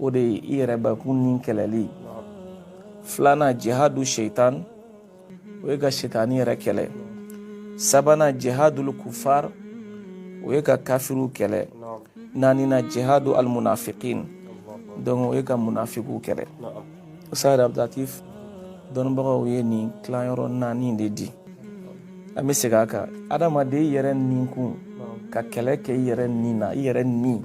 o de ye i yɛrɛbakun ni kɛlɛli filanan jihadu seitan o ye ka seitani yɛrɛ kɛlɛ sabanan jihadul kufar o ye ka kafiriw kɛlɛ naaninan jihadu almunafiqin donc o ye ka munafikiw kɛlɛ ustaz abdulatif dɔnnibagaw ye nin tilayɔrɔ naani de di an bɛ segin a kan adamaden yɛrɛ ninkun ka kɛlɛ kɛ i yɛrɛ nin na i yɛrɛ nin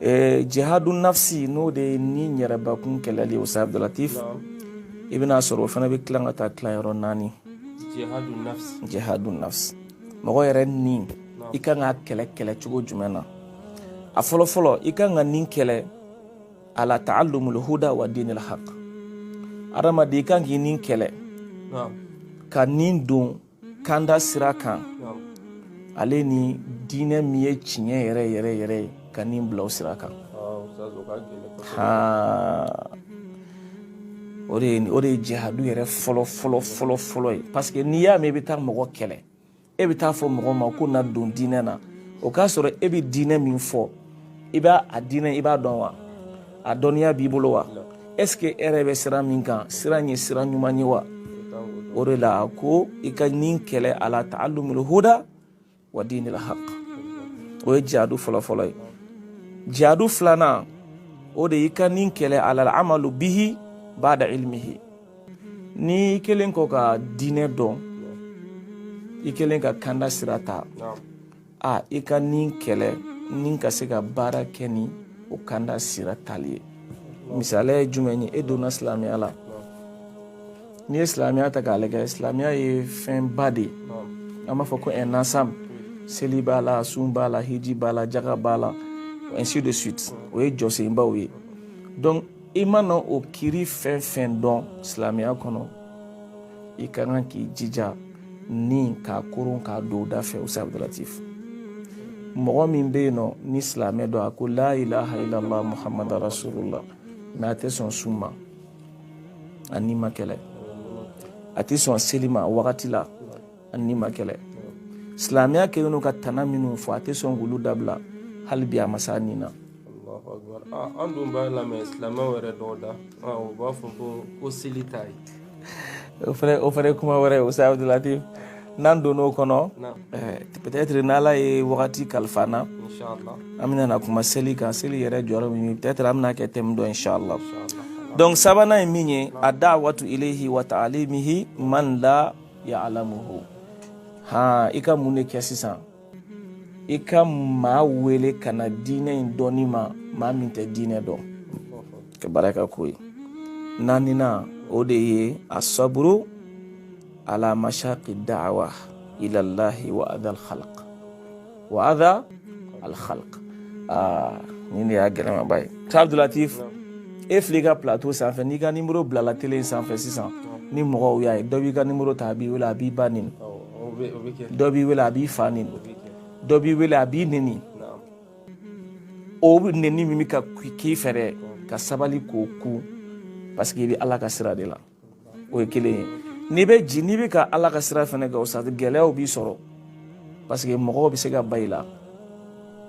Ɛɛ jihadunafsi n'o de ye ni yɛrɛbakun kɛlɛli ye Ustaz Abudulatif, naamu, i bɛn'a sɔrɔ o fana bɛ tilan ka taa tilan yɔrɔ naani, jihadunafsi, jihadunafsi, mɔgɔ yɛrɛ ni i ka kan k'a kɛlɛ kɛlɛ cogo jumɛn na a fɔlɔ fɔlɔ i ka kan ka ni kɛlɛ ala ta'allumul huda wa dinil haq adamaden i ka kan k'i ni kɛlɛ, naamu, ka ni don kanda sira kan ale ni diinɛ min ye tiɲɛ yɛrɛ yɛrɛ yɛrɛ ye ka nin bila o sira kan o de ye o de ye jihadu yɛrɛ fɔlɔ fɔlɔ fɔlɔ fɔlɔ ye parce que n'i y'a mɛn i bɛ taa mɔgɔ kɛlɛ e bɛ t'a fɔ mɔgɔ ma ko na don diinɛ na o k'a sɔrɔ e bɛ diinɛ min fɔ i b'a a diinɛ i b'a dɔn wa a dɔnniya b'i bolo wa est ce que e yɛrɛ bɛ sira min kan sira in ye sira ɲuman ye wa o de la ko i ka nin kɛlɛ ala ta'allumul huda wa dinil haq o ye jihadu fɔlɔfɔlɔ ye jihadu filanan o de y'i ka nin kɛlɛ alal amalu bihi bada ilmihi n'i kɛlen kɔ ka diinɛ dɔn i kɛlen ka kanda sira ta a i ka ni kɛlɛ ni ka se ka baara kɛ ni o kanda sira tali ye misaliya ye jumɛn ye e donna silamɛya la n'i ye silamɛya ta k'a lajɛ silamɛya ye fɛnba de ye an b'a fɔ ko un ensemble seli b'a la sun b'a la hiji b'a la jaga b'a la ainsi de suite o ye jɔsenbaw ye donc i mana o kiri fɛn fɛn dɔn silamɛya kɔnɔ i ka kan k'i jija ni k'a koron k'a don da fɛ ustaz abdulatif mɔgɔ min bɛ yen nɔ ni silamɛ don a ko la ilaha illallah muhammad rasulullah mais a tɛ sɔn sun ma a ni ma kɛlɛ a tɛ sɔn seli ma wagati la a ni ma kɛlɛ silamɛya kɛlen don ka tana minnu fɔ a tɛ sɔn k'olu dabila hali bi a ma s'a nin na Ah, an dun b'a lamɛn silamɛw yɛrɛ dɔw da ah, u b'a fɔ ko ko seli t'a ye o fana o fana ye kuma wɛrɛ ye ustaz abudulatif n'an donna o kɔnɔ eh, peut-être n'ala ye wagati kalifa an na an bɛna na kuma seli kan seli yɛrɛ jɔyɔrɔ min ye peut-être an bɛna kɛ thème dɔ inshallah donc sabanan ye min ye a da'watu ilayhi wa ta'alimihi man la ya'lamuhu han i ka mun de kɛ sisan i ka maa wele ka na diinɛ in dɔnni ma maa min tɛ diinɛ dɔn ka baara ka ko ye naaninan o de ye asaburu ala mashaqi da'wa ila allahi wa adha alkhalq wa adha alkhalq ah nin de y'a gɛlɛmaba ye ustaz abdulatif e filɛ i ka plateau sanfɛ n'i ka nimoro bilala tele in sanfɛ sisan ni mɔgɔw y'a ye dɔ b'i ka nimoro ta a b'i wele a b'i ba neni dɔ b'i wele a b'i fa neni dɔ b'i wele a b'i neni o neni min bɛ ka k'i fɛ dɛ ka sabali k'o kun parce que i bɛ ala ka sira de la o ye kelen ye n'i bɛ ji n'i bɛ ka ala ka sira fɛnɛ kɛ ustaz gɛlɛyaw b'i sɔrɔ parce que mɔgɔw bɛ se ka ba i la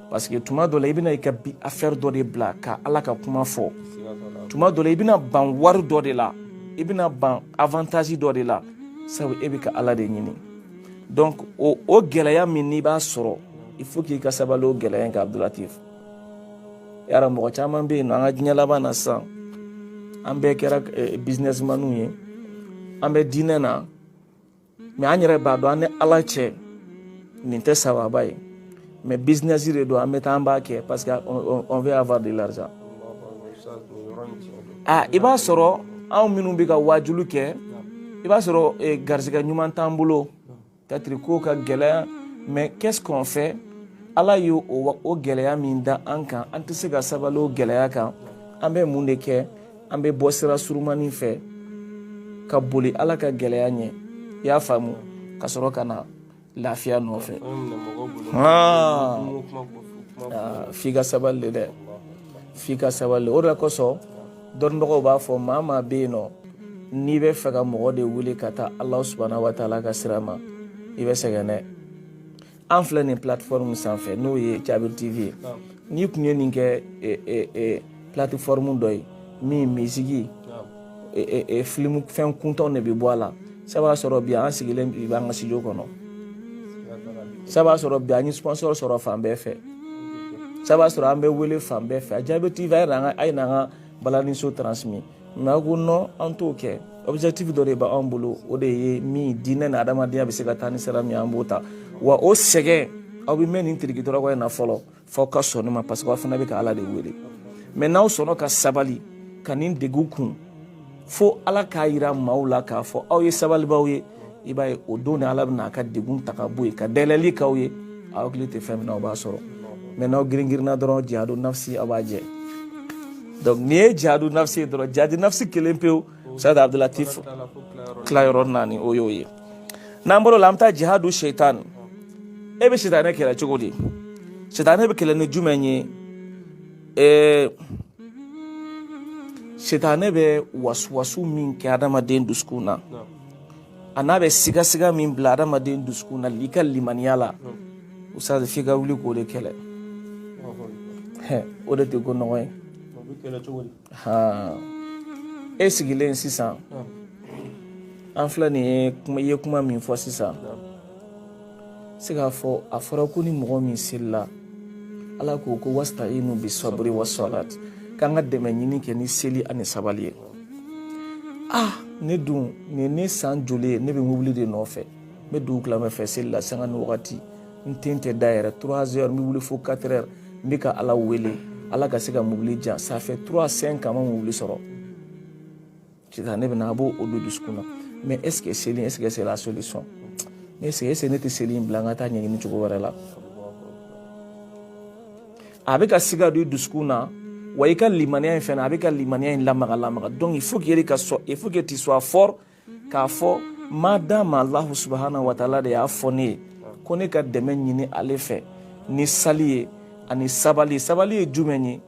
parce que tuma dɔ la i bɛna i ka bi affaire dɔ de bila ka ala ka kuma fɔ tuma dɔ la i bɛna ban wari dɔ de la i bɛna ban avantage dɔ de la sabu e bɛ ka ala de ɲini donc o o gɛlɛya min n'i b'a sɔrɔ il faut k'i ka sabali o gɛlɛya in kan abdulatif yara mɔgɔ caman bɛ yen nɔ an ka diɲɛ laban na sisan an bɛɛ kɛra eh, businessmaniw ye an bɛ diinɛ na mais an yɛrɛ b'a dɔn an ni ala cɛ nin tɛ sababa ye mais business de don an bɛ taa an b'a kɛ parce que on veut avoir de l'argent a i b'a sɔrɔ anw minnu bɛ ka waajuli kɛ i b'a sɔrɔ eh, garisɛgɛ ɲuman t'an bolo peut-être ko ka gɛlɛya mais qu'est-ce qu'on fait ala ye o gɛlɛya min da an kan an tɛ se ka sabali o gɛlɛya kan an bɛ mun de kɛ an bɛ bɔ sira surumani fɛ ka boli ala ka gɛlɛya ɲɛ i y'a faamu ka sɔrɔ ka na lafiya nɔfɛ f'i ka sabali de dɛ f'i ka sabali o de kosɔn dɔnnibagaw b'a fɔ maa maa bɛ yen nɔ n'i bɛ fɛ ka mɔgɔ de wele ka taa alahu subahanahu wa taala ka sira ma i bɛ sɛgɛn dɛ an filɛ nin plateforme sanfɛ n'o ye Jabir TV ye n'i kun ye nin kɛ plateforme dɔ ye min misiki film fɛn kuntanw de bɛ bɔ a la s'a b'a sɔrɔ bi an sigilen bi b'an ka studio kɔnɔ s'a b'a sɔrɔ bi an ye sponsor sɔrɔ fan bɛɛ fɛ s'a b'a sɔrɔ an bɛ wele fan bɛɛ fɛ Jabir TV a ye n'an ka balani show transmis mais a ko non an t'o kɛ objectif dɔ de b'an bolo o de ye min diinɛ ni adamadenya bɛ se ka taa ni sira min an b'o ta wa o sɛgɛn aw bɛ mɛn nin tirikitɔrɔkɔ in na fɔlɔ f'aw ka sɔn ne ma parce que aw fana bɛ ka ala de wele mais n'aw sɔnna ka sabali ka nin degun kun fo ala k'a yira maaw la k'a fɔ aw ye sabalibaaw ye i b'a ye o don ni ala bɛna a ka degun ta ka bɔ yen ka dayɛlɛli k'aw ye aw hakili tɛ fɛn min na aw b'a sɔrɔ mais n'aw giringirinna dɔrɔn jihadu nafsi aw b'a jɛ donc n'i ye jihadu nafsi ye dɔrɔn jihadu nafsi kelen pewu ustaz abdulatif tilayɔrɔ naani o y'o ye n'an bɔr'o la an bɛ taa jihadu shaitan e bɛ sitanɛ kɛlɛ cogo di sitanɛ bɛ kɛlɛ ni jumɛn ye ee sitanɛ bɛ wasuwasu min kɛ adamaden dusukun na a n'a bɛ sigasiga min bila adamaden dusukun na i ka limaniya la ustaz f'i ka wuli k'o de kɛlɛ o de tɛ ko nɔgɔ ye e sigilen sisan an filɛ nin ye kuma i ye kuma min fɔ sisan se k'a fɔ a fɔra ko ni mɔgɔ min selila ala ko ko wasta'inu bi saburi wa salat k'an ka dɛmɛ ɲini kɛ ni seli ani sabali ye ah ne dun nin ne san joli ye ne bɛ mobili de nɔfɛ n bɛ dugu tilamɛ fɛ seli la sanga ni wagati n tɛ n tɛ da yɛrɛ 3 heures n bɛ wuli fo 4 heures n bɛ ka ala wele ala ka se ka mobili di yan ça fait 3 5 ans n ma mobili sɔrɔ Sitanɛ bɛ na a b'o don dusukun na mais est-ce que seli est-ce que c'est la solution est-ce que est-ce que ne tɛ seli in bila n ka taa ɲɛɲini cogo wɛrɛ la a bɛ ka siga don i dusukun na wa i ka limaniya in fɛnɛ a bɛ ka limaniya in lamaga lamaga donc il faut que yɛrɛ ka sɔn il faut que tu sois fort k'a fɔ ma dama alahu subahana wa taala de y'a fɔ ne ye ko ne ka dɛmɛ ɲini ale fɛ ni sali ye ani sabali sabali ye jumɛn ye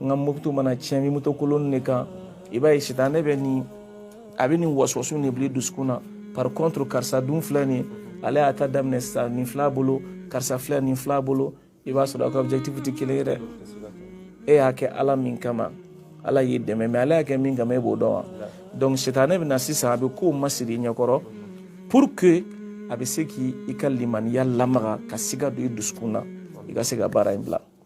n ka moto mana tiɲɛ n bɛ moto kolon de kan i b'a ye sitanɛ bɛ nin a bɛ nin wasuwasu de bila dusukun na par contre karisa dun filɛ nin ale y'a ta daminɛ sisan nin filɛ a bolo karisa filɛ nin filɛ a bolo i b'a sɔrɔ aw ka objectif tɛ kelen ye dɛ e y'a kɛ ala min kama ala y'i dɛmɛ mais ale y'a kɛ min kama e b'o dɔn wa donc sitanɛ bɛ na sisan a bɛ kow masiri i ɲɛkɔrɔ pour que a bɛ se k'i i ka limaniya lamaga ka siga don i dusukun na i ka se ka baara in bila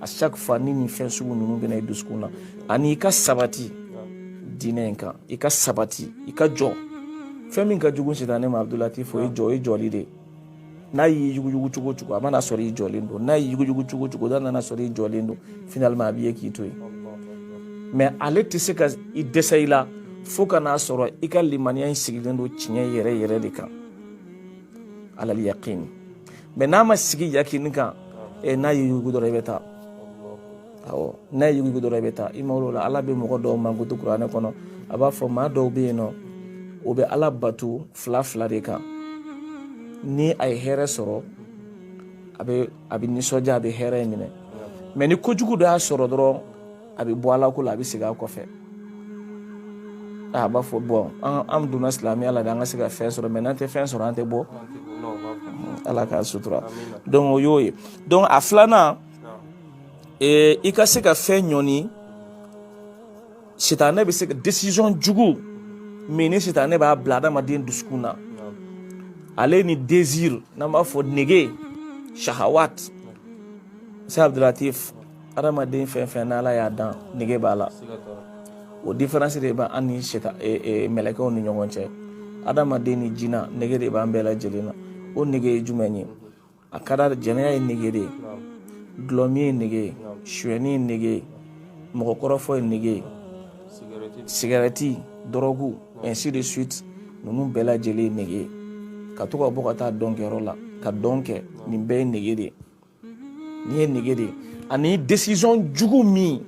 à chaque fois ni nin fɛn sugu ninnu bɛ na i dusukun na ani i ka sabati diinɛ in kan i ka sabati i ka jɔ fɛn min ka jugu sitanɛ ma abdulatif o y'i jɔ i jɔli de n'a y'i yuguyugu cogo o cogo a mana sɔrɔ i jɔlen don n'a y'i yuguyugu cogo o cogo n'a nana sɔrɔ i jɔlen don finalement a b'i ye k'i to yen mais ale tɛ se ka i dɛsɛ i la fo ka n'a sɔrɔ i ka limaniya in sigilen don tiɲɛ yɛrɛ yɛrɛ de kan alal yaqin mais n'a ma sigi yakini kan n'a y'i yuguyugu dɔrɔn i bɛ taa awɔ n'a y'i yuguyugu dɔrɔn i bɛ taa i mago la ala bɛ mɔgɔ dɔw mankutu kuranɛ kɔnɔ a b'a fɔ maa dɔw bɛ yen nɔ o bɛ ala bato filanfilan de kan ni a ye hɛrɛ sɔrɔ a bɛ a bɛ nisɔndiya a bɛ hɛrɛ in minɛ mais ni kojugu dɔ y'a sɔrɔ dɔrɔn a bɛ bɔ ala ko la a bɛ segin a kɔfɛ a b'a fɔ bon an donna silamɛya la de an ka se ka fɛn sɔrɔ mais n'an tɛ fɛn sɔrɔ an tɛ bɔ ala k'an sutura donc o y'o ye donc a filanan i ka se ka fɛn ɲɔni sitanɛ bɛ se ka décision jugu min ni sitanɛ b'a bila adamaden dusukun na ale ni désir n'an b'a fɔ nege shahawat cheikh abdulatif adamaden fɛn fɛn n'ala y'a dan nege b'a la o différence de b'an ni mɛlɛkɛw ni ɲɔgɔn cɛ adamaden ni jinɛ nege de b'an bɛɛ lajɛlen na o nege ye jumɛn ye a ka da jɛnɛya ye nege de ye dulɔmin ye nege ye suyɛni ye nege ye mɔgɔkɔrɔfɔ ye nege ye sigarɛti dɔrɔgu ainsi de suite ninnu bɛɛ lajɛlen ye nege ye ka to ka bɔ ka taa dɔnkɛyɔrɔ la ka dɔn kɛ nin bɛɛ ye nege de ye nin ye nege de ye ani décision jugu min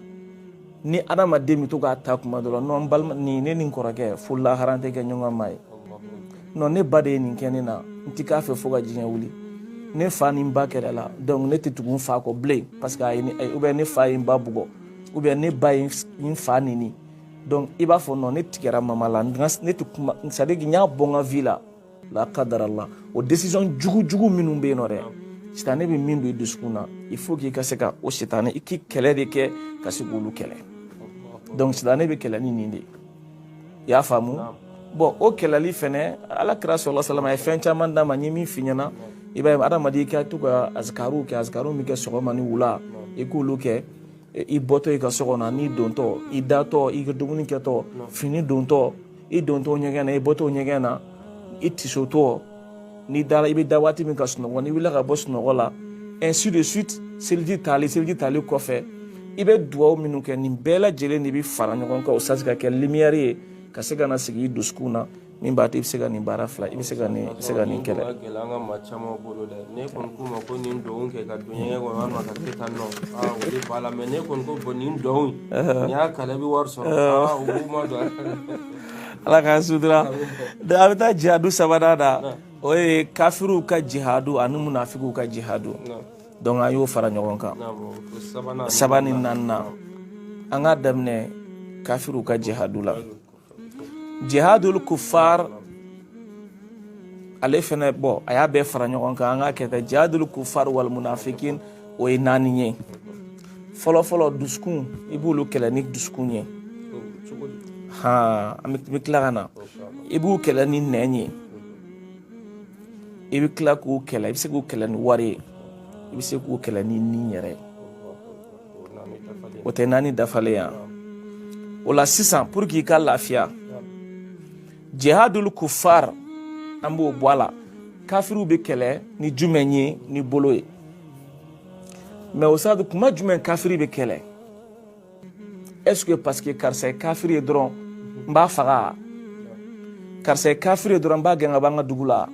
ni adamaden bɛ to k'a ta kuma dɔ la non balima nin ne ni n kɔrɔkɛ fo lahara an tɛ kɛ ɲɔgɔn maa ye non ne ba de ye nin kɛ ne na n ti k'a fɛ fo ka diɲɛ wuli ne fa ni n ba kɛlɛla donc ne tɛ tugu n fa kɔ bilen parce que a ye ne ou bien ne fa ye n ba bugɔ ou bien ne ba ye n fa neni donc i b'a fɔ non ne tigɛra mama la ne tɛ kuma c'est à dire n y'a bɔ n ka vie la la qadarallah o décision jugu jugu minnu bɛ yen nɔ dɛ sitanɛ bɛ min don i dusukun na il faut k'i ka se ka o sitanɛ i k'i kɛlɛ de kɛ ka se k'olu kɛlɛ donc sitanɛ bɛ kɛlɛ ni nin de ye i y'a faamu bon o kɛlɛli fɛnɛ ala kira sallallahu alaihi wasallam a ye fɛn caman d'an ma n ye min f'i ɲɛna i b'a ye adamaden i ka to ka azikariw kɛ azikariw min kɛ sɔgɔma ni wula i k'olu kɛ i bɔtɔ i ka so kɔnɔ n'i dontɔ i datɔ i ka dumuni kɛtɔ fini dontɔ i dontɔ ɲɛgɛn na i bɔtɔ ɲɛgɛn na i tisotɔ n'i dara i bɛ da waati min ka sunɔgɔ n'i wulila ka bɔ sunɔgɔ la ainsi de suite seliji tali seliji tali kɔfɛ i bɛ dugawu minnu kɛ nin bɛɛ lajɛlen de bɛ fara ɲɔgɔn kan o sa se ka kɛ lumière ye ka se ka na sigi i dusukun na min b'a to i bɛ se ka nin baara fila i bɛ se ka nin se ka nin kɛlɛ. gɛlɛn an ka maa caman bolo dɛ n'i kɔni k'u ma ko nin dɔn kɛ ka don ɲɛgɛn kɔnɔ walima ka kɛ tan nɔ aa o de b'a la mais n'i kɔni ko bon nin dɔn y'a kalan i bɛ wari sɔrɔ ala k'an sutura a bɛ taa jihadu sabanan na o ye kafiriw ka jihadu ani munafigiw ka jihadu donc an y'o fara ɲɔgɔn kan sabanan ni naaninan an k'a daminɛ kafiriw ka jihadu la jihadul kuffar ale fɛnɛ bon an y'a bɛɛ fara ɲɔgɔn kan an k'a kɛ tan jihadul kuffar wal munafikin o ye naani ye fɔlɔfɔlɔ dusukun i b'olu kɛlɛ ni dusukun ye han an bɛ tila ka na i b'u kɛlɛ ni nɛn ye i bɛ tila k'u kɛlɛ i bɛ se k'u kɛlɛ ni wari ye i bɛ se k'u kɛlɛ ni ni yɛrɛ ye o tɛ naani dafalen yan o la sisan pour que i ka lafiya jihadul kufar an b'o bɔ a la kafiriw bɛ kɛlɛ ni jumɛn ye ni bolo ye mais o sadu kuma jumɛn kafiri bɛ kɛlɛ est ce que parce que karisa ye kafiri ye dɔrɔn n b'a faga karisa ye kafiri ye dɔrɔn n b'a gɛn ka bɔ an ka dugu la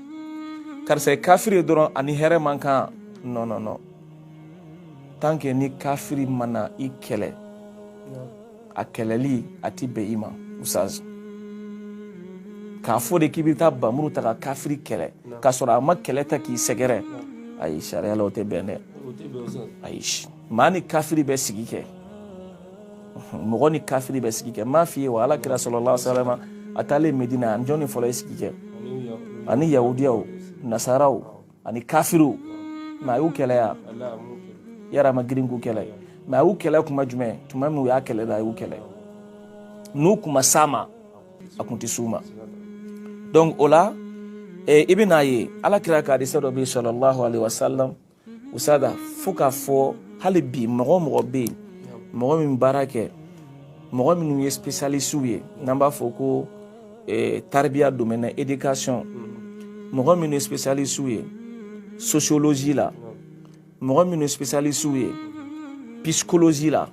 karisa ye kafiri ye dɔrɔn a ni hɛrɛ man kan non non non tant que ni kafiri ma na i kɛlɛ a kɛlɛli a tɛ bɛn i ma usaz k'a fɔ de k'i bɛ taa bamuru ta ka kafiri kɛlɛ k'a sɔrɔ a ma kɛlɛ ta k'i sɛgɛrɛ ayi sariya la o tɛ bɛn dɛ ayi maa ni kafiri bɛ sigi kɛ mɔgɔ ni kafiri bɛ sigi kɛ m'a f'i ye wa ala kira sallallahu alayhi wa sallam a taalen medina a ni jɔni fɔlɔ ye sigi kɛ a ni yahudiyaw nasaraw ani kafiriw mais a y'u kɛlɛ wa ayi a ma girin k'u kɛlɛ mais a y'u kɛlɛ kuma jumɛn tuma min u y'a kɛlɛ la a y'u kɛlɛ n'u kun ma s'a ma a kun tɛ s'u ma donc o la eh, i bɛn'a ye ala kira ka hadisa dɔ bɛ yen sallallahu alayhi wa sallam usada fo k'a fɔ hali bi mɔgɔ mɔgɔ bɛ yen mɔgɔ min baara kɛ mɔgɔ minnu ye spécialiste ye n'an b'a fɔ ko eh, taribiya domaine na éducation mɔgɔ minnu ye spécialiste ye sociologie la mɔgɔ minnu ye spécialiste ye psychologie la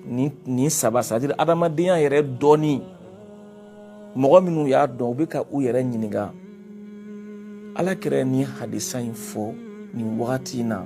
nin saba c'est à dire adamadenya yɛrɛ dɔnni mɔgɔ minnu y'a dɔn u bɛ ka u yɛrɛ ɲininka ala kira ni hadisa in fɔ nin wagati in na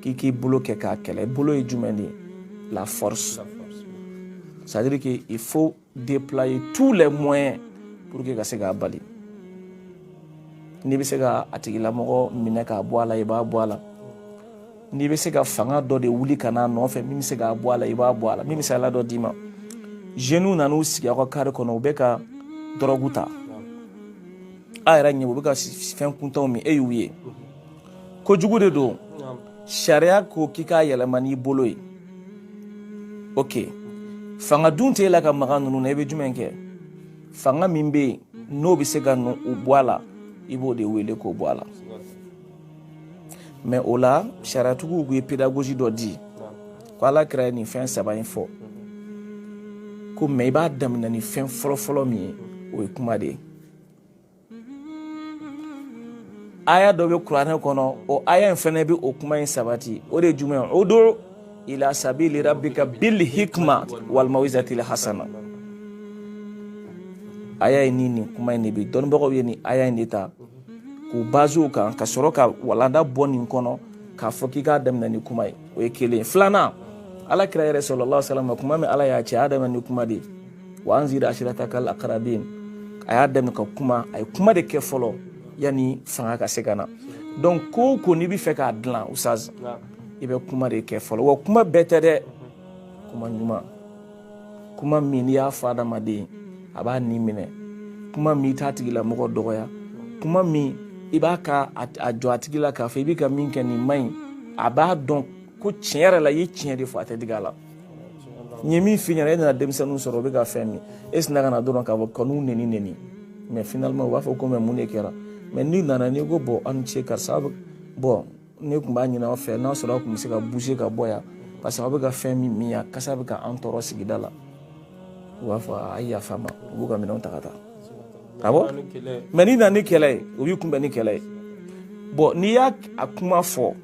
k'i k'i bolo kɛ k'a kɛlɛ bolo ye jumɛn de ye la force c'est à dire que il faut déployer tous les moyens pour que ka se k'a bali n'i bɛ se ka a tigilamɔgɔ minɛ k'a bɔ a la i b'a bɔ a la n'i bɛ se ka fanga dɔ de wuli ka n'a nɔfɛ min bɛ se k'a bɔ a la i b'a bɔ a la n bɛ misaliya dɔ d'i ma jeunes nana u sigi aw ka carré kɔnɔ u bɛ ka dɔrɔgu ta a yɛrɛ ɲɛ u bɛ ka fɛn kuntanw min e y'u ye kojugu de don sariya ko k'i k'a yɛlɛma n'i bolo ye ok fanga dun tɛ e la ka maga ninnu na i bɛ jumɛn kɛ fanga min bɛ yen n'o bɛ se ka n'u bɔ a la i b'o de wele k'o bɔ a la mais o la sariyatigiw ye pédagogie dɔ di ko ala kira ye nin fɛn saba in fɔ ko mais i b'a daminɛ ni fɛn fɔlɔfɔlɔ min ye o ye kuma de ye aya dɔ bɛ kuranɛ kɔnɔ o aya in fana bɛ o kuma in sabati o de ye jumɛn udu ila sabili rabbika bil hikma wal mawizatil hasana aya in ni nin kuma in de bɛ dɔnnibagaw ye nin aya in de ta k'u baser o kan ka sɔrɔ ka walanda bɔ nin kɔnɔ k'a fɔ k'i k'a daminɛ ni kuma ye o ye kelen filanan ala kira yɛrɛ sallallahu alaihi wasallam kuma min ala y'a ci a y'a daminɛ ni kuma de ye wa anzir ashiratakal aqrabin a y'a daminɛ ka kuma a ye kuma de kɛ fɔlɔ yanni fanga ka se ka na donc ko o ko n'i bɛ fɛ k'a dilan usaz i bɛ kuma de kɛ fɔlɔ wa kuma bɛɛ tɛ dɛ kuma ɲuman kuma min n'i y'a fɔ adamaden a b'a ni minɛ kuma min i t'a tigilamɔgɔ dɔgɔya kuma min i b'a ka a jɔ a tigi la k'a fɔ i bɛ ka min kɛ nin man ɲi a b'a dɔn ko tiɲɛ yɛrɛ la i ye tiɲɛ de fɔ a tɛ digi a la n ye min f'i ɲɛna e nana denmisɛnninw sɔrɔ o bɛ ka fɛn min e sina ka na dɔrɔn k'a fɔ ka u neni neni mɛ finalement u b'a fɔ ko mɛ mun de kɛra mɛ n'i nana n'i ko bɔn aw ni ce karisa bɔn ne tun b'a ɲini aw fɛ n'a sɔrɔ aw tun bɛ se ka bouger ka bɔ yan parce que aw bɛ ka fɛn min min yan kasa bɛ ka an tɔɔrɔ sigida la u b'a fɔ a ye yafa an ma u b'u ka minɛnw ta ka taa awɔ mɛ n'i nana ni kɛlɛ ye u b'i kunbɛn ni kɛlɛ ye bɔn n'i y'a kuma fɔ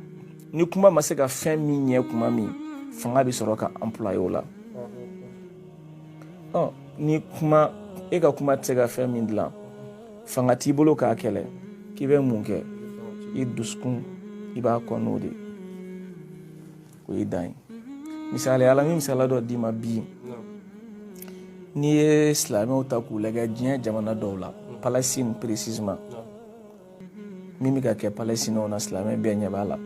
ni kuma ma se ka fɛn min ɲɛ kuma min fanga bɛ sɔrɔ ka employer o la ni kuma e ka kuma tɛ se ka fɛn min dilan fanga t'i bolo k'a kɛlɛ k'i bɛ mun kɛ i dusukun i b'a kɔn n'o de o ye dan ye misaliya la n bɛ misaliya dɔ d'i ma bi n'i ye silamɛw ta k'u lajɛ diɲɛ jamana dɔw la palestine précisément min bɛ ka kɛ palestinienw na silamɛ bɛɛ ɲɛ b'a la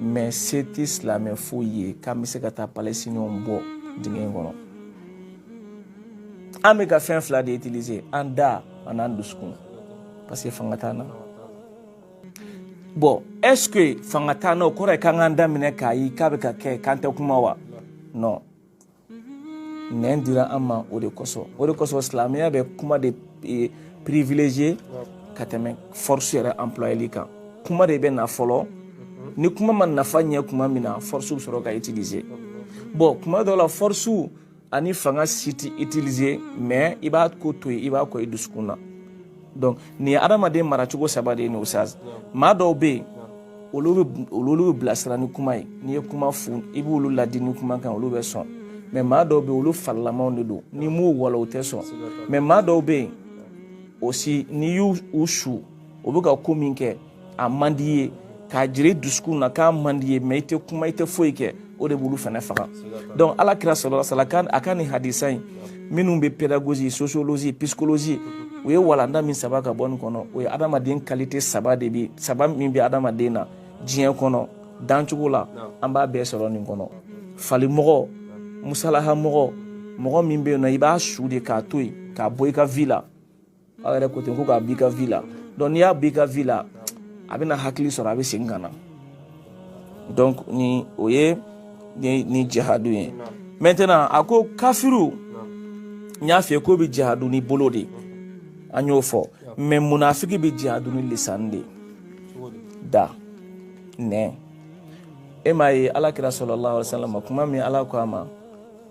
mɛ se tɛ silamɛ foyi ye k'an bɛ se ka taa palestinienw bɔ dingɛ in kɔnɔ an bɛ ka fɛn fila de utiliser an da an'an dusukun parce que fanga t'an na bɔn est ce que fanga t'an na o kɔrɔ ye k'an k'an da minɛ k'a ye k'a bɛ ka kɛ k'an tɛ kuma wa non nɛn dira an ma o de kosɔn o de kosɔn silamɛya bɛ kuma de e, privilégier ka tɛmɛ force yɛrɛ employeli kan kuma de bɛ na fɔlɔ ni kuma ma nafa ɲɛ kuma min na force bɛ sɔrɔ ka utiliser bon kuma dɔw la force ani fanga si tɛ utiliser mais i b'a ko to yen i b'a kɔn i dusukun na donc nin ye adamaden maracogo saba de ye nin usaz maa dɔw bɛ yen olu bɛ olu bɛ bilasira ni kuma ye n'i ye kuma fɔ i b'olu ladi ni kuma kan olu bɛ sɔn mɛ maa dɔw bɛ yen olu falilamaw de don n'i m'u walon u tɛ sɔn mɛ maa dɔw bɛ yen aussi n'i y'u sɔrɔ o bɛ ka ko min kɛ a man di ye k'a jira i dusukun na k'a man di ye mais i tɛ kuma i tɛ foyi kɛ o de b'olu fana faga donc ala kira sallallahu alaihi wa sallam a ka nin hadisa in minnu bɛ pédagogie sociologie psychologie u ye walanda min saba ka bɔ nin kɔnɔ o ye adamaden qualité saba de bi saba min bɛ adamaden na diɲɛ kɔnɔ dancogo la an b'a bɛɛ sɔrɔ nin kɔnɔ falimɔgɔ musalahamɔgɔ mɔgɔ min bɛ yen nɔ i b'a su de k'a to yen k'a bɔ i ka vie la aw yɛrɛ ko ten ko k'a b'i ka vie la donc n'i y'a b'i ka vie la a bɛna hakili sɔrɔ a bɛ segin ka na donc ni o ye ni jihadu ye maintenant a ko kafiru n y'a f'i ye k'o bɛ jihadu ni bolo de an y'o fɔ mais munafiki bɛ jihadu ni lisan de da nɛn e m'a ye alakira sallallahu alaihi wa sallam kuma min ala ko a ma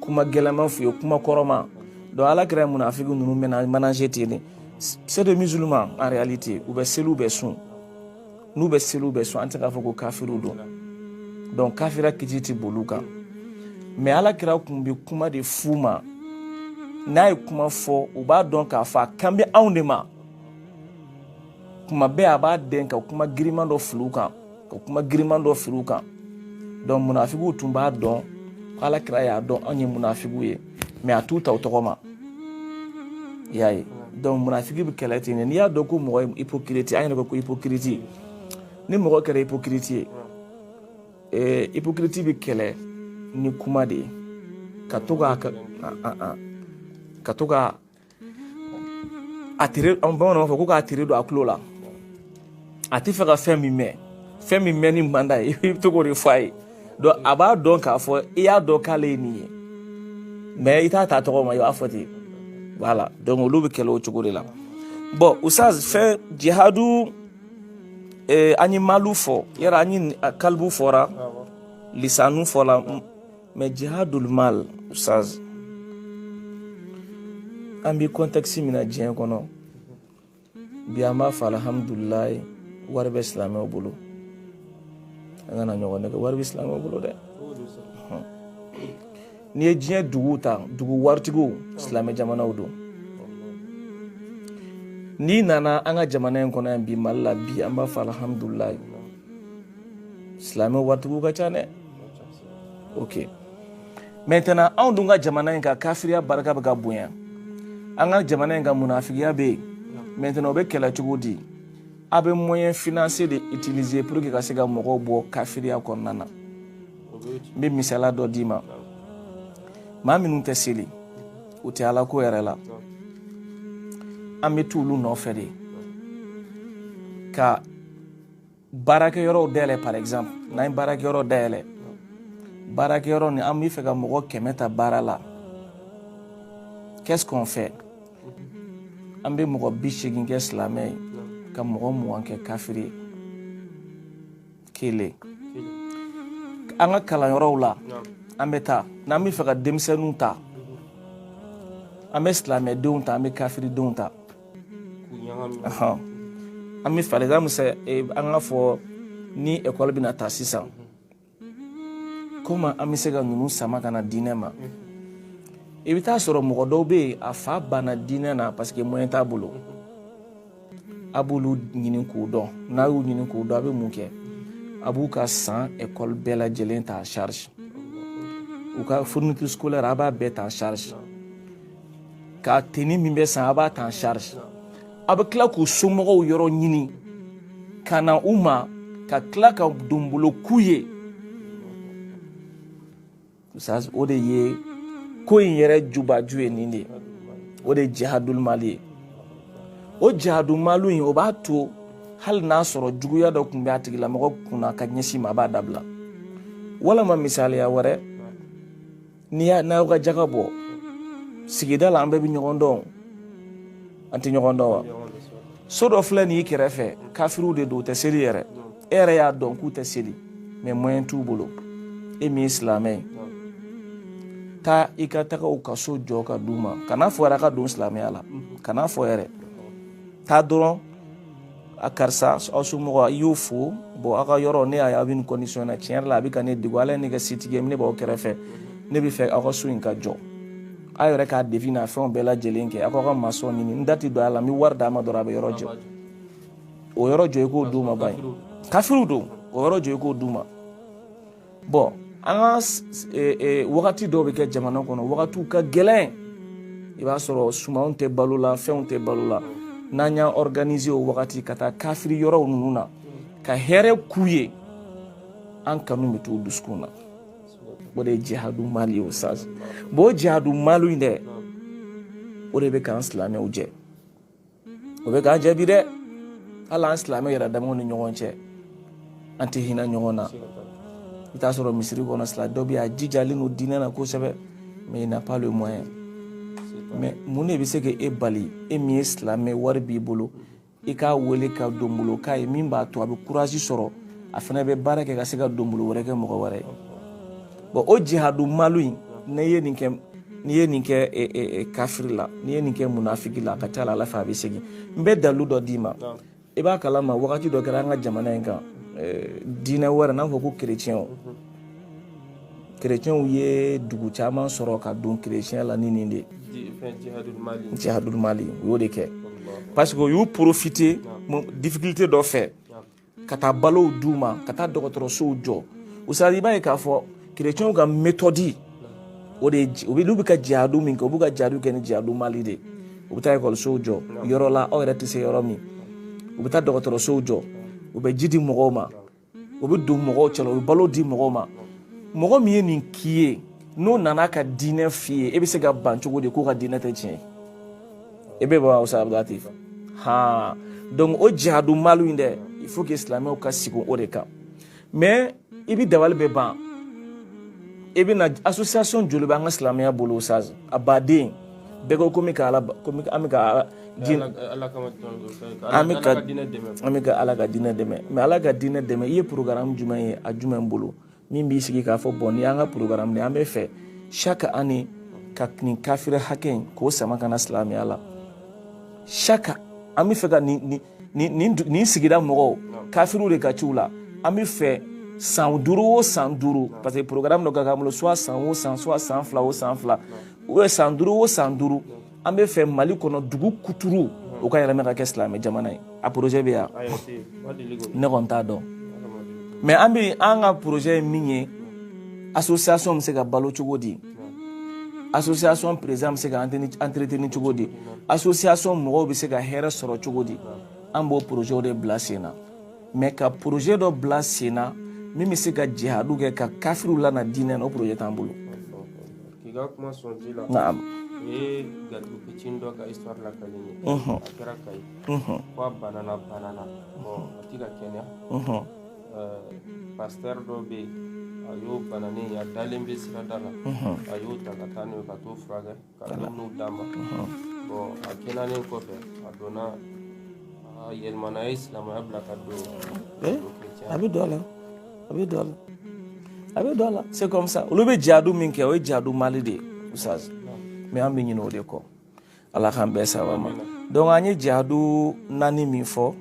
kuma gɛlɛnman f'u ye kuma kɔrɔma donc ala kira ye munafiki ninnu ménager ten c'est des musulmans en réalité u bɛ seli u bɛ sun n'u bɛ seli u bɛ sun an tɛ k'a fɔ ko kafiriw don donc kafira kiti tɛ boli u kan mais ala kira kun bɛ kuma de f'u ma n'a ye kuma fɔ u b'a dɔn k'a fɔ a kan bɛ anw de ma kuma bɛɛ a b'a dɛn ka kuma giriman dɔ fili u kan ka kuma giriman dɔ firi u kan donc munafigiw tun b'a dɔn ko ala kira y'a dɔn anw ye munafigiw ye mais a t'u ta u tɔgɔ ma i y'a ye donc munafigi bɛ kɛlɛ ten de n'i y'a dɔn ko mɔgɔ ye hypocrite an yɛrɛ ko ko hypocrite ni mɔgɔ kɛra hypocrite ye ɛɛ hypocrite bɛ kɛlɛ ni kuma de ye ka to ka ka to ka a tere an bamananw b'a fɔ ko k'a tere don a tulo la a tɛ fɛ ka fɛn min mɛn fɛn min mɛnni man d'a ye i bɛ to k'o de fɔ a ye donc a b'a dɔn k'a fɔ i y'a dɔn k'ale ye nin ye mais i t'a ta tɔgɔ ma i b'a fɔ ten voilà donc olu bɛ kɛlɛ o cogo de la bon usaz fɛn jihadu eh, an ye malu fɔ yala an ye kalibu fɔra lisanu fɔra mais jihadul mal usaz an bɛ contexte min na diɲɛ kɔnɔ bi an b'a fɔ alihamudulilayi wari bɛ silamɛw bolo an kana ɲɔgɔn nɛgɛn wari bɛ silamɛw bolo dɛ n'i ye diɲɛ duguw ta dugu waritigiw silamɛ jamanaw don n'i nana an ka jamana in kɔnɔ yan bi mali la bi an b'a fɔ alihamudulilayi silamɛ waritigiw ka ca dɛ ok maintenant anw dun ka jamana in ka kafiriya barika bɛ ka bonya an ka jamana in ka munafigiya bɛ yen maintenant o bɛ kɛlɛ cogo di a bɛ moyen financier de utiliser pour que ka se ka mɔgɔw bɔ kafiriya kɔnɔna na n bɛ misaliya dɔ d'i ma maa minnu tɛ seli u tɛ ala ko yɛrɛ la an bɛ t'olu nɔfɛ de ka baarakɛyɔrɔw dayɛlɛ par exemple n'an ye baarakɛyɔrɔ dayɛlɛ baarakɛyɔrɔ ni an bɛ fɛ ka mɔgɔ kɛmɛ ta baara la qu'est-ce qu'on fait an bɛ mɔgɔ bi seegin kɛ silamɛ ye ka mɔgɔ mugan kɛ kafiri ye kelen an ka kalanyɔrɔw la an bɛ taa n'an bɛ fɛ ka denmisɛnninw ta an bɛ silamɛdenw ta an bɛ kafiridenw ta an bɛ par exemple an ka fɔ ni ekɔli bɛna taa sisan komi an bɛ se ka ninnu sama ka na diinɛ ma i bɛ t'a sɔrɔ mɔgɔ dɔw bɛ yen a fa banna diinɛ na parce que moyen t'a bolo a b'olu ɲini k'u dɔn n'a y'u ɲini k'u dɔn a bɛ mun kɛ a b'u ka san ekɔli bɛɛ lajɛlen ta en charge u ka fourniture scolaire a b'a bɛɛ ta en charge ka tenue min bɛ san a b'a ta en charge a bɛ tila k'u somɔgɔw yɔrɔ ɲini ka na u ma ka tila ka donbolo k'u ye o de ye ko in yɛrɛ jubaju ye nin de ye o de ye jihadul mali ye o jihadul mali in o b'a to hali n'a sɔrɔ juguya dɔ tun bɛ a tigilamɔgɔ kunna ka ɲɛsin ma a b'a dabila walama misaliya wɛrɛ n'aw ka jaga bɔ sigida la an bɛɛ bɛ ɲɔgɔn dɔn an tɛ ɲɔgɔn dɔn wa so dɔ filɛ nin y'i kɛrɛfɛ kafiriw de don u tɛ seli yɛrɛ e yɛrɛ y'a dɔn k'u tɛ seli mais moyen t'u bolo e min ye silamɛ ye taa i ka taga u ka so jɔ ka d'u ma kan'a fɔ yɛrɛ a ka don silamɛya la kan'a fɔ yɛrɛ taa dɔrɔn a karisa aw somɔgɔ i y'o fo bon aw ka yɔrɔ ne y'a ye aw bɛ nin condition na tiɲɛ yɛrɛ la a bɛ ka ne degun ala ye ne kɛ setigi ye ne b'aw kɛrɛfɛ ne bɛ fɛ aw ka so in ka jɔ aw yɛrɛ k'a devis n'a fɛnw bɛɛ lajɛlen kɛ aw k'aw ka maçon ɲini n da tɛ don a la n bɛ wari d'a ma dɔrɔn a bɛ yɔrɔ jɔ o yɔrɔ jɔ i k'o d'u ma ba ye kafiriw don o yɔrɔ jɔ i k'o d'u ma bon an ka wagati dɔw bɛ kɛ jamana kɔnɔ wagatiw ka gɛlɛn i b'a sɔrɔ sumanw tɛ balo la fɛnw tɛ balo la n'an y'an organiser o wagati ka taa kafiri yɔrɔw ninnu na ka hɛrɛ k'u ye an kanu bɛ t'u dusukun na o de ye jihadu mali ye ustaz bon o jihadu mali in dɛ o de bɛ k'an silamɛw jɛ o bɛ k'an jɛ bi dɛ hali an silamɛ yɛrɛ damaw ni ɲɔgɔn cɛ an tɛ hinɛ ɲɔgɔn na i t'a sɔrɔ misiri kɔnɔ silamɛ dɔ bɛ yen a jijalen don diinɛ na kosɛbɛ mais il n'a pas le moyen mais mun de bɛ se ka e bali e min ye silamɛ wari b'i bolo i k'a wele ka donbolo k'a ye min b'a to a bɛ courage sɔrɔ a fana bɛ baara kɛ ka se ka donbolo wɛrɛ kɛ mɔgɔ wɛrɛ ye bɔn o jihadu malu in n'i ye nin kɛ n'i ye nin kɛ e, e, e, kafiri la n'i ye nin kɛ munafiki la a ka ca la ala fɛ a bɛ segin n bɛ dalu dɔ d'i ma i b'a kalama wagati dɔ kɛra an ka jamana in kan diinɛ wɛrɛ n'a fɔ ko kerecɛnw kerecɛnw ye dugu caman sɔrɔ ka don kerecɛnya la ni nin de jihadul mali u y'o de kɛ parce que u y'u profiter difficulté dɔ fɛ ka taa balow d'u ma ka taa dɔgɔtɔrɔsow jɔ ustaz i b'a ye k'a fɔ kerecɛnw ka méthode o de olu bɛ ka jihadu min kɛ u b'u ka jihadu kɛ ni jihadu mali de u bɛ taa ekɔlisow jɔ yɔrɔ la aw yɛrɛ tɛ se yɔrɔ min u bɛ taa dɔgɔtɔrɔsow jɔ u bɛ ji di mɔgɔw ma u bɛ don mɔgɔw cɛla u bɛ balo di mɔgɔw ma mɔgɔ min ye nin k'i ye n'o nana ka diinɛ f'i ye e bɛ se ka ban cogo di k'o ka diinɛ tɛ tiɲɛ ye i bɛ bɔ ustaz abudulatif han donc o jihadu malu in dɛ il faut que silamɛw ka sigi o de kan mais i bɛ dabali bɛ ban i bɛ na association joli bɛ an ka silamɛya bolo ustaz a baden bɛɛ ko komi ka ala komi an bɛ ka diinɛ an bɛ ka an bɛ ka ala ka diinɛ dɛmɛ mais ala ka diinɛ dɛmɛ i ye programme jumɛn ye a jumɛn bolo min b'i sigi k'a fɔ bɔn ni an ka programme an bɛ fɛ chaque année ka nin kafiri hakɛ in k'o sama ka na silamɛya la chaque an bɛ fɛ ka nin sigida mɔgɔw kafiriw de ka ca u la an bɛ fɛ san duuru o san duuru parce que programme dɔ ka k'an bolo soit san o san soit san fila o san fila ou bien san duuru o san duuru an bɛ fɛ mali kɔnɔ dugu kuturu o ka yɛlɛma ka kɛ silamɛ jamana ye a projet bɛ yan ne kɔni t'a dɔn mais an bɛ an ka projet ye min ye association bɛ se ka balo cogo di association président bɛ se ka entretenir cogo di association mɔgɔw bɛ se ka hɛrɛ sɔrɔ cogo di an b'o projet de bila sen na mais ka projet dɔ bila sen na min bɛ se ka jihadu kɛ ka kafiriw lana diinɛ na o projet t'an bolo K'i ka kuma sɔn ji la. Naam. U ye garibu fitini dɔ ka histoire lakali n ye. Unhun. A kɛra Kayi. Unhun. Ko a banana banana. Bon a tɛ ka kɛnɛya. Unhun. Euh pasteur dɔ bɛ yen, a y'o bananen ye, a dalen bɛ sirada la. Unhun. A y'o ta ka taa n'o ye ka t'o furakɛ, ka dumuniw d'a ma. Unhun. Bon a kɛnɛyalen kɔfɛ, a donna, a yɛlɛmana, a ye silamɛya bila ka don kerecɛnya la. a bɛ don a la a bɛ don a la c'est comme ça olu bɛ jaadu min kɛ o ye jaadu mali de ye ustaz mais an bɛ ɲinɛ o de kɔ ala k'an bɛɛ saba ma donc an ye jaadu naani min fɔ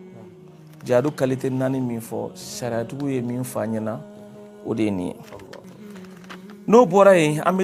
jaadu qualité naani min fɔ sariyatigiw ye min fɔ an ɲɛna o de ye nin ye n'o bɔra yen an bɛ